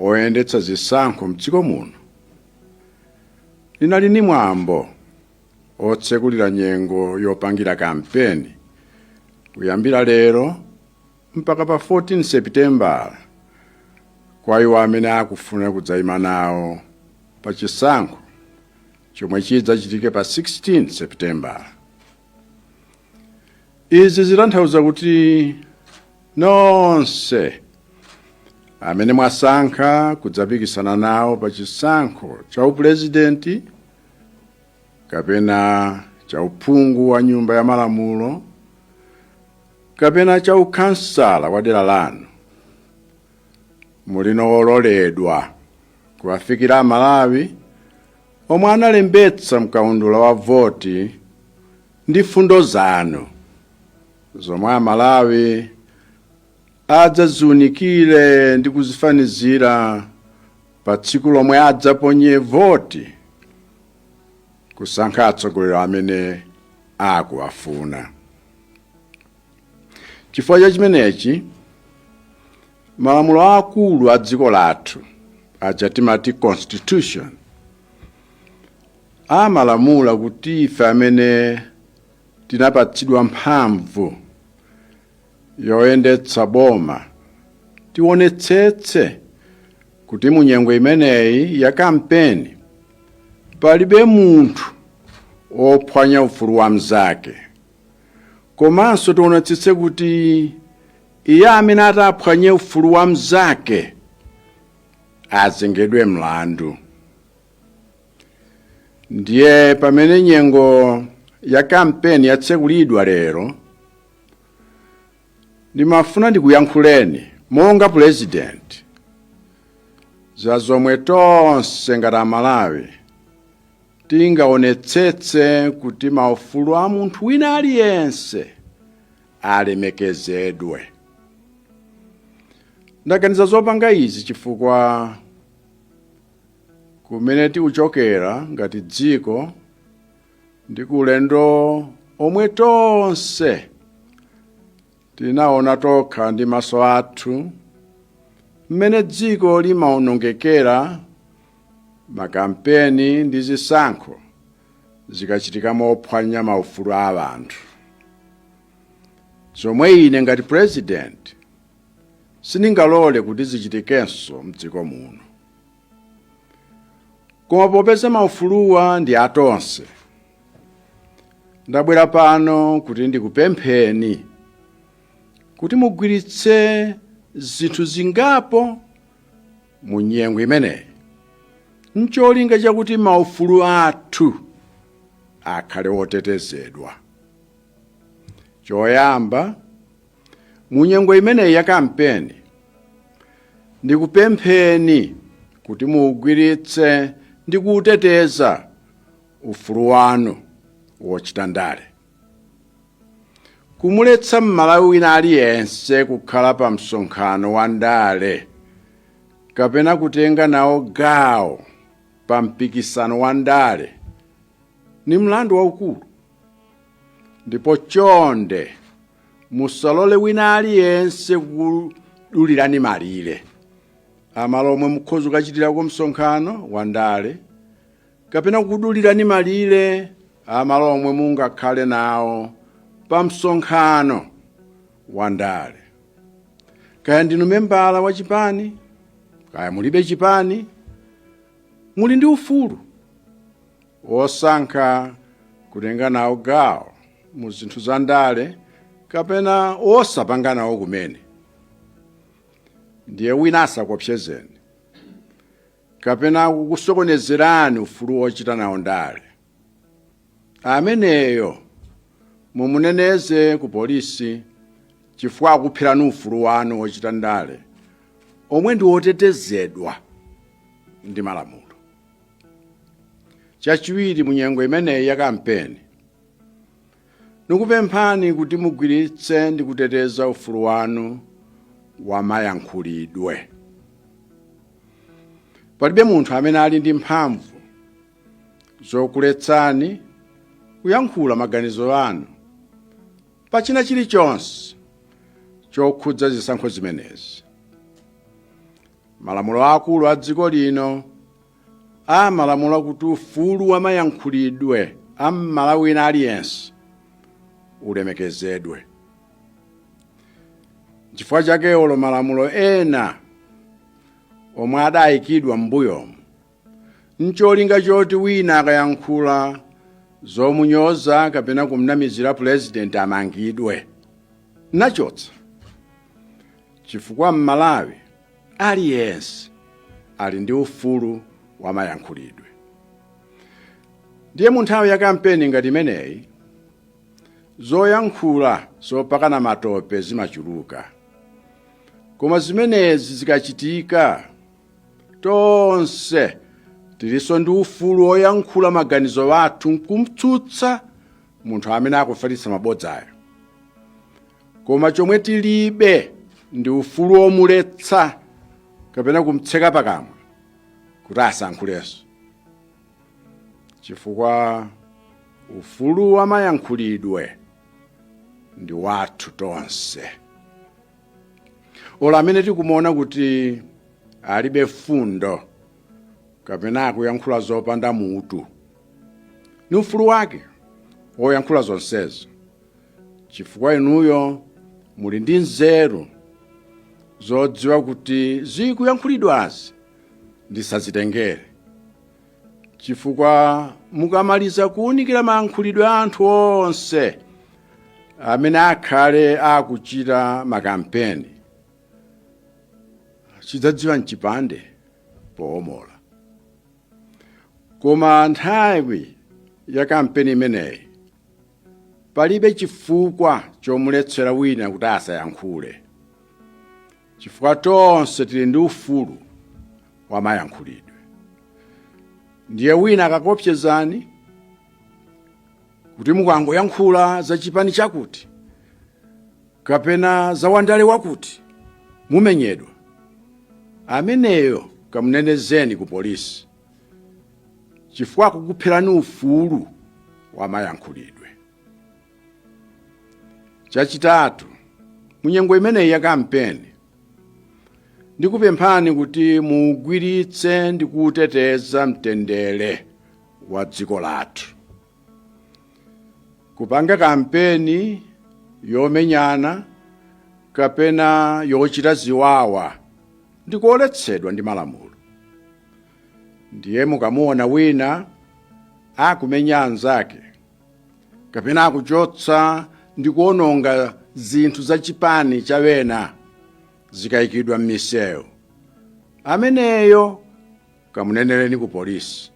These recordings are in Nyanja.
oyendetsa zisankho mdziko muno linali ndi mwambo otsekulira nyengo yopangira kampeni kuyambira lero mpaka pa 14 sepitembala kwa iwo amene akufuna kudzayima nawo pa chisankho chomwe chidzachitike pa 16 sepitembala izi zitanthauza kuti nonse amene mwasankha kudzapikisana nawo pa chisankho cha upulezidenti kapena cha uphungu wa nyumba ya malamulo kapena cha ukhansala wa dera lanu muli no ololedwa kuwafikira amalawi omwe analembetsa mkaundula wa voti Ndi mfundo zanu zomwe a Malawi adzaziunikire ndi kuzifanizira pa tsiku lomwe adzaponye voti kusankha atsogoleri amene akuwafuna. Chifukwa cha chimenechi, malamulo akulu a dziko lathu aja timati constitution Amalamula kuti ife amene tinapatsidwa mphamvu yoyendetsa boma tionetsetse kuti mu nyengo imeneyi ya kampeni palibe munthu wophwanya ufulu wa mnzake, komanso tionetsetse kuti iye amene ataphwanye ufulu wa mnzake azengedwe mlandu. ndiye pamene nyengo ya kampeni yatsekulidwa lero ndimafuna ndikuyankhuleni monga pulezidenti za zomwe tonse ngati amalawi tingaonetsetse kuti maufulu a munthu wina aliyense alemekezedwe ndaganiza zopanga izi chifukwa kumene tikuchokera ngati dziko ndi kulendo komwe tonse tinaona tokha ndi maso athu mmene dziko limaonongekera makampeni ndi zisankho zikachitika mophwanya maufulu a anthu zomwe ine ngati pulezidenti sindingalole kuti zichitikenso mdziko muno koma popeza maufuluwa ndi atonse ndabwera pano kuti ndikupempheni kuti mugwiritse zinthu zingapo mu nyengo imeneyi ncholinga chakuti maufulu athu akhale otetezedwa choyamba mu nyengo imeneyi ya kampeni ndikupempheni kuti muugwiritse ndi kuuteteza ufulu wanu wochita ndale kumuletsa mmalawi wina aliyense kukhala pa msonkhano wa ndale kapena kutenga nawo gawo pa mpikisano wa ndale ni mlandu waukulu ndipo chonde musalole wina aliyense kukudulirani malire amalo omwe mukhoza kukachitirako msonkhano wa ndale kapena kukudulirani malire amalo omwe mungakhale nawo pa msonkhano wa ndale kaya ndinu membala wa chipani kaya mulibe chipani muli ndi ufulu wosankha kutenga nawo gawo mu zinthu za ndale kapena wosapanga nawo kumene ndiye wina asakopsezeni kapena kukusokonezerani ufulu wochita nawo ndale ameneyo mumuneneze ku polisi chifukwa akuphirani ufulu wanu wochita ndale omwe ndi wotetezedwa ndi malamulo chachiwiri mu nyengo imeneyi ya kampeni nikupemphani kuti mugwiritse ndi kuteteza ufulu wanu wamayankhulidwe palibe munthu amene ali ndi mphamvu zokuletsani kuyankhula maganizo anu pa china chilichonse chokhudza zisankho zimenezi Malamulo aakulu a dziko lino amalamula kuti ufulu wa mayankhulidwe a m'Malawi wina aliyense ulemekezedwe. N'chifukwa chake olo malamulo ena omwe adayikidwa m'mbuyomu n'cholinga choti wina akayankhula zomunyoza kapena kumnamizira pulezidenti amangidwe nachotsa chifukwa m'malawi aliyense ali ndi ufulu wa mayankhulidwe ndiye mu nthawi ya kampeni ngati imeneyi zoyankhula zopakana matope zimachuluka koma zimenezi zikachitika tonse tilinso ndi ufulu woyankhula maganizo athu nkumtsutsa munthu amene akufalitsa mabodzayo koma chomwe tilibe ndi ufulu womuletsa kapena kumtseka pakamwa kuti asayankhulenso chifukwa ufulu wa mayankhulidwe ndi wathu tonse olo amene tikumuona kuti alibe fundo kapena akuyankhula zopanda mutu ni ufulu wake woyankhula zonsezo chifukwa inuyo muli ndi nzeru zodziwa kuti zikuyankhulidwazi ndisazitengere chifukwa mukamaliza kuwunikira mayankhulidwe a anthu onse amene akhale akuchita makampeni chidzadziwa nchipande poomola koma nthawi ya kampeni imeneyi palibe chifukwa chomuletsera wina kuti asayankhule chifukwa tonse tili ndi ufulu wa mayankhulidwe ndiye wina akakopsezani kuti mukangoyankhula za chipani chakuti kapena za wandale wakuti mumenyedwa ameneyo kamunenereni ku polisi chifukwa akukupherani ufulu wa mayankhulidwe chachitatu munyengo imeneyi ya kampeni ndikupemphani kuti muugwiritse ndi kuuteteza mtendere wa dziko lathu kupanga kampeni yomenyana kapena yochita ziwawa ndikoletsedwa ndi malamulo ndiye mukamuona wina akumenya anzake kapena akuchotsa ndi kuononga zinthu za chipani cha ena zikayikidwa m'misewu ameneyo kamunenereni ku polisi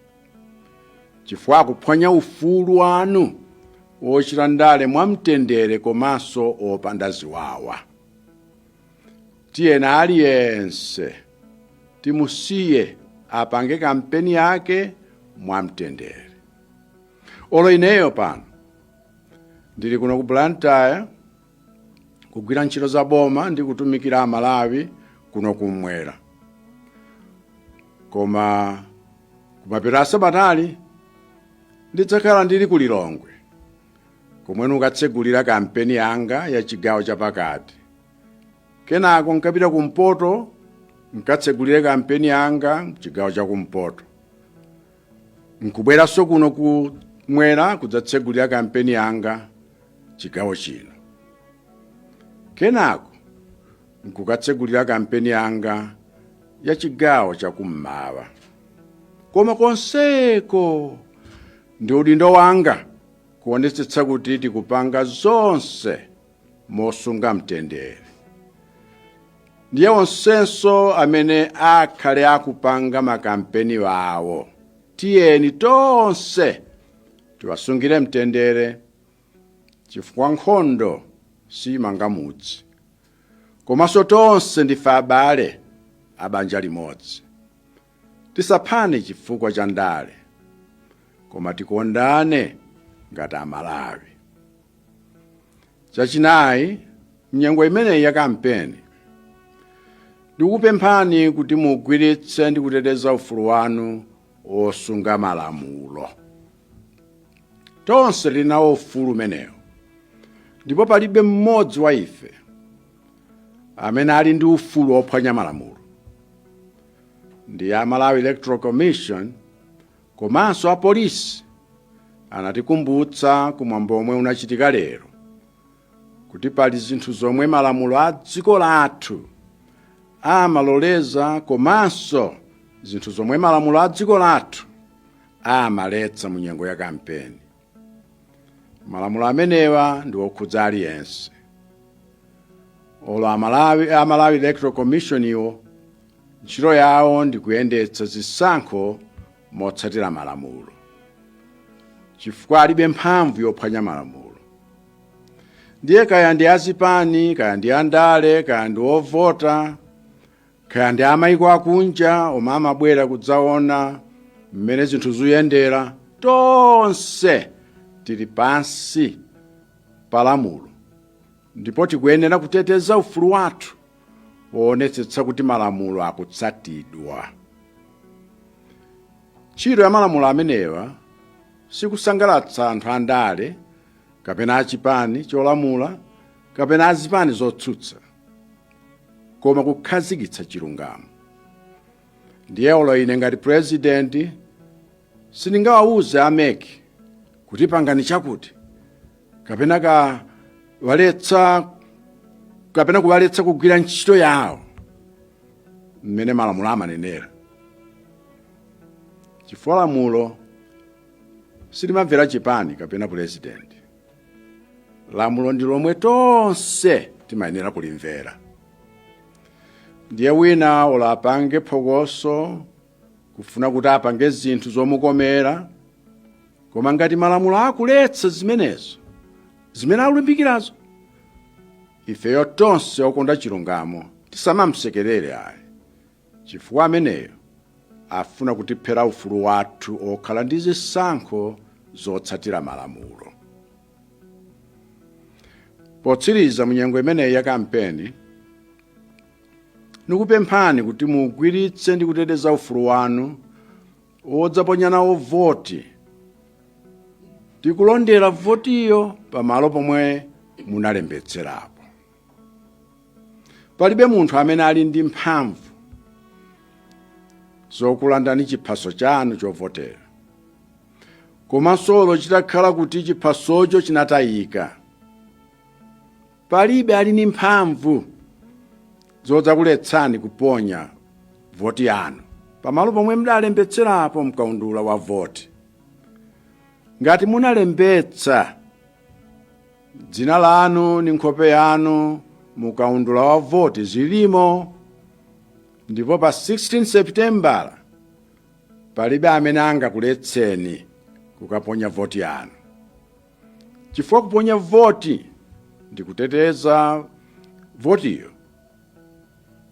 chifukwa akuphwanya ufulu wanu wochita ndale mwamtendere komanso wopanda ziwawa tiyeni aliyense timusiye apange kampeni yake mwamtendere olo ineyo pano ndili kuno ku blantyre kugwira ntchito za boma ndi kutumikira amalawi kuno kumwera koma kumapeto a sabatali ndidzakhala ndili ku lilongwe komwe nkukatsegulira kampeni yanga ya chigawo chapakati kenako nkapita kumpoto nkatsegulire kampeni yanga chigawo chakumpoto nkubweranso kuno kumwera kudzatsegulira kampeni yanga chigawo chino kenako nkukatsegulira kampeni yanga ya chigawo chakummawa koma konseko ndi udindo wanga kuonetsetsa kuti tikupanga zonse mosunga mtendere ndiye onsenso amene akhale akupanga makampeni awo tiyeni tonse tiwasungire mtendere chifukwa nkhondo simanga mudzi komanso tonse ndife abale abanja limodzi Tisaphane chifukwa cha ndale, koma tikondane ngati Amalawi. Chachinayi, m'nyengo imeneyi ya kampeni, ndikupemphani kuti mugwiritse ndi kuteteza ufulu wanu wosunga malamulo. Tonse tili nawo ufulu umenewo, ndipo palibe mmodzi wa ife amene ali ndi ufulu wophwanya malamulo. ndi a malawi electoral commission komanso apolisi anatikumbutsa kumwambo womwe unachitika lero kuti pali zinthu zomwe malamulo a dziko lathu amaloleza komanso zinthu zomwe malamulo a dziko lathu amaletsa mu nyengo ya kampeni malamulo amenewa ndi okhudza aliyense olo amalawi a malawi electoral commission iwo ntchito yawo ndi kuyendetsa zisankho motsatira malamulo chifukwa alibe mphamvu yophwanya malamulo ndiye kaya ndi azipani kaya ndi andale kaya ndi ovota kaya ndi amayiko akunja omwe amabwera kudzaona mmene zinthu zuyendera tonse tili pansi pa lamulo ndipo tikuyenera kuteteza ufulu wathu woonetsetsa kuti malamulo akutsatidwa ntchito ya malamulo amenewa sikusangalatsa anthu andale kapena achipani cholamula kapena azipani zotsutsa koma kukhazikitsa chilungamo ndiye olo ine ngati purezidenti sindingawawuze a mec kuti pangani chakuti kapena kuwaletsa kugwira ntchito yawo mmene malamulo amanenera chifukwa lamulo silimamvera chipani kapena purezidenti lamulo ndi lomwe tonse timayenera kulimvera ndiye wina olo apange phokoso kufuna kuti apange zinthu zomukomera koma ngati malamulo akuletsa zimenezo zimene akulimbikirazo ifeyo tonse okonda chilungamo tisamamsekerere ayi chifukwa ameneyo afuna kutiphera ufulu wathu okhala ndi zisankho zotsatira malamulo potsiriza munyengo imeneyi ya kampeni nikupemphani kuti mugwiritse ndi kuteteza ufulu wanu wodzaponya nawo voti ndi kulondera votiyo pamalo pomwe munalembetserapo palibe munthu amene ali ndi mphamvu zokulandani chiphaso chanu chovotera komanso olo chitakhala kuti chiphasocho chinatayika palibe ali ndi mphamvu zodzakuletsani kuponya voti yanu pamalo pomwe mudalembetserapo mkaundula wa voti ngati munalembetsa dzina lanu ndi nkhope yanu mu kaundula wa voti zilimo ndipo pa 16 seputembala palibe amene angakuletseni kukaponya voti yanu chifukwa kuponya voti ndi kuteteza votiyo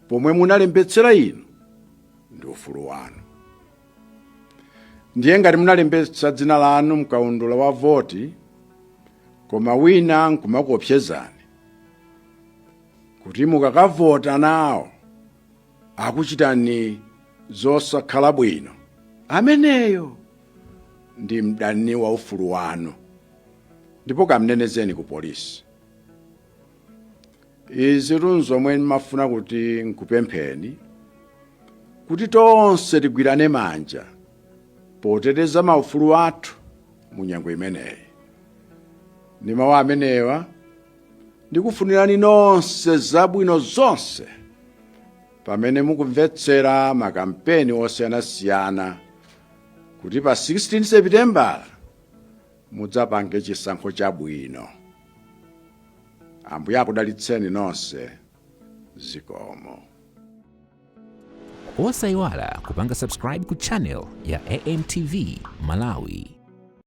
pomwe munalembetsera inu ndi ufulu wanu ndiye ngati munalembetsa dzina lanu mkaundula wa voti koma wina nkumakuopsezani kuti mukakavota nawo akuchitani zosakhala bwino ameneyo ndi mdani wa ufulu wanu ndipo kamnenezeni ku polisi izi ndi zomwe ndimafuna kuti nkupempheni kuti tonse tigwirane manja poteteza maufulu athu mu nyengo imeneyi ndi mawu amenewa ndikufunirani nonse zabwino zonse pamene mukumvetsera makampeni osiyanasiyana kuti pa 16 sepitembala mudzapange chisankho chabwino. Ambuye akudalitseni nonse. Zikomo. Osayiwala kupanga subscribe ku channel ya AMTV Malawi.